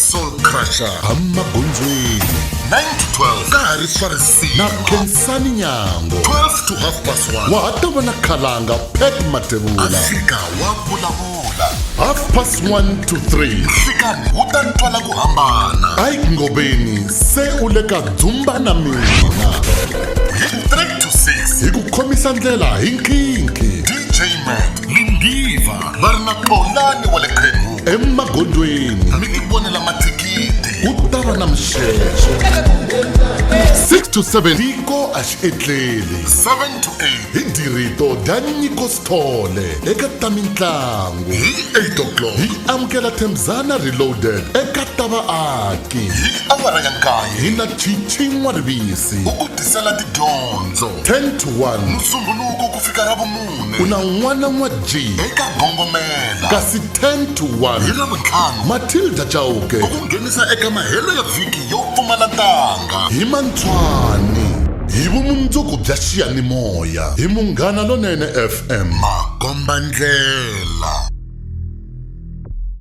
soul crusher amagondzweni 9 to 12 ka ha ri swa risima na khensani nyango 12 to half past 1 wa ha ta vona khalanga pet matevula fika wa vulavula half past 1 to 3 fikani wu ta twala ku hambana ike ngobeni se u le ka dzumba na mina hi 3 to 6 hi ku khomisa ndlela hi nkhinkhi dj man lindiva va ri na xolani wa le emagondzweni mi ti vonela mathikithi ku ta va na mixexo 6 to 7 tiko a xi etleli 7 to 8 hi dirito dya nyiko sithole eka ta mintlangu hi 8 o'clock hi amukela themzana reloaded eka ta vaaki hi awara ya nkaye hi na chichin'wa rivisi u ku tisela tidyondzo 10 to 1 musunguluko ku fika ra vumune mune. U na n'wana n'wa Jim. Eka Gongomela. Kasi 10 to 1. Hi Ravuntlhanu. Matilda Chauke. Ku ku nghenisa eka mahelo ya vhiki yo pfumala ntanga. Hi Mantswani. Hi vumundzuku bya xiyanimoya. Hi Munghana Lonene FM. Makombandlela.